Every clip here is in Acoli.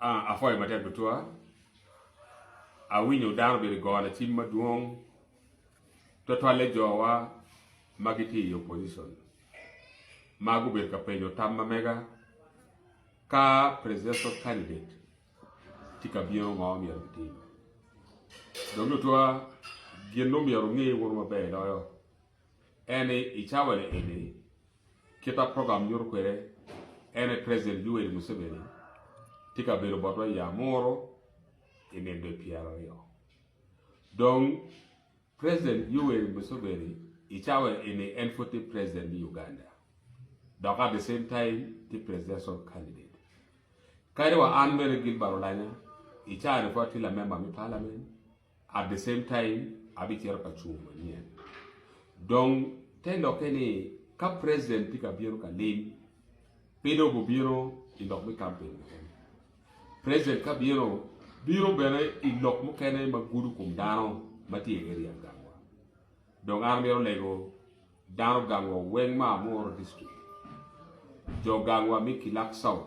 Ah, apwoyo matek tutwal. Awinyo dano obedo gona cim madwong twatwalle jowa ma gitye i opposition ma gubedo ka penyo tam ma mega ka presidential candidate tye ka bino ngo myero gitim. Dong tutwa gin omyero ngi wunu maber loyo eni i cawani eni Kit ma program nyuto kwede en aye President Yoweri Museveni tye ka bedo botwa i Amuru i ninde pyera aryo. Dong President Yoweri Museveni i cawa eni en pwod tye President me Uganda dok at the same time tye Presidential Candidate. Kadi wa an bene Gilbert Olanya i cawa ni pwod atye lamember me Parliament, At the same time abicito ka cung manyen. Dong te lokke ni ka president tye ka bino ka lim, pe dong obibino i lok me campaign keken. President ka bino, bino bene i lok mukene ma gudo kom dano ma tye i area gangwa. Dong an amito lego Dano gangwa weng ma Amuru District, jo gangwa me Kilak South,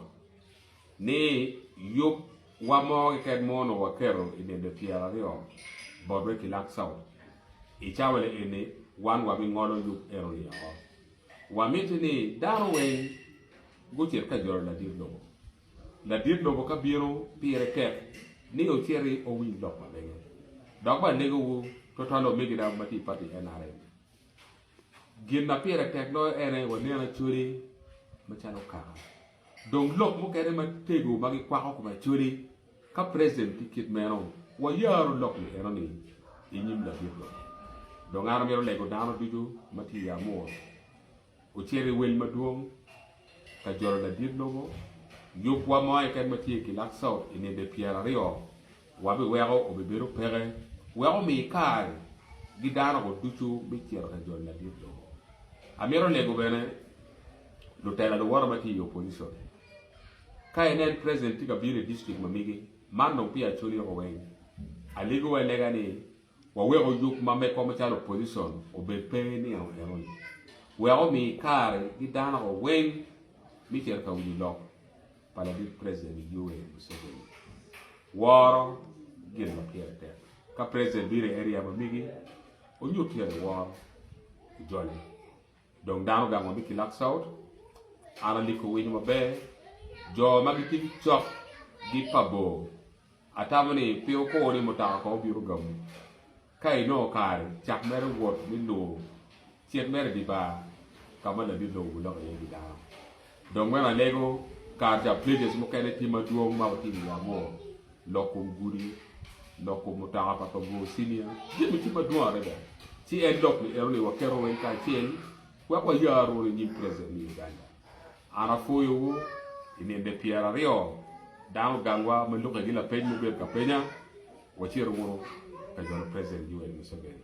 ni yub wa mo keken mo onongo waketo i dende pyera aryo bot me Kilak South. I cawale eni wan wa bi ngolo yub eno ni oko. Wa miti ni dano weng gucit ka jolo ladit lobo. Ladit lobo ka bino pire tek ni ociti owiny lok ma mege. Dok balego wu twatwal omegina ma tye i party NRM. Gin ma pire tek loyo en aye wanen Acholi macalo kaka dong lok mukene matego ma gikwako kom Acholi ka President ki kit meno wayaro lok ni eno ni inyim labit wa. Dong an amito lego dano ducu ma tye i Amur Ocito i wel madwong ka jolo ladit lobo, yubwa mo keken ma tye i Kilakso i ninde pyeraryo wa biweko obibedo peke wek omi kare gi dano go ducu me cito ka jolo ladit lobo. Amito lego bene lutela luwote ma tye i opposition. Ka inen president tye ka bino i district ma migi, man dong peya coli oko weng. Aligo wa lega ni Wawek oyub ma mekwa macalo opozicon obed pe niang enoni, wek omi kare gi dano wa weng me cito ka winyo lok pa ladit President Yoweri Museveni. Woro gin ma pire tek. Ka President bino i area ma migi, onyut tere woro ojole. Dong dano gang wa me Kilak South, Ana Liko winyo maber, jo ma gitye ki cok gi pa bor Atamo ni pe wukor ni mutoka kong obino gamu ka inongo kare cak mere wot me lubo cik mere i dye bar ka ma ladit lobo guloko iye pi dano. Dong wek alego, kare ca places mukene tye madwong ma watye i wi Amur, lok kom gudi, lok kom mutoka pa Kabuo Senior, jami tye madwong adada. Ci en lok ni enoni waketo weng kacel wek wayar rwod i nyim President me Uganda. An apwoyowu i ninde pyeraryo, dano gangwa ma lukke gi lapeny mubed ka penya, wacit wunu ka jolo President Yoweri Museveni.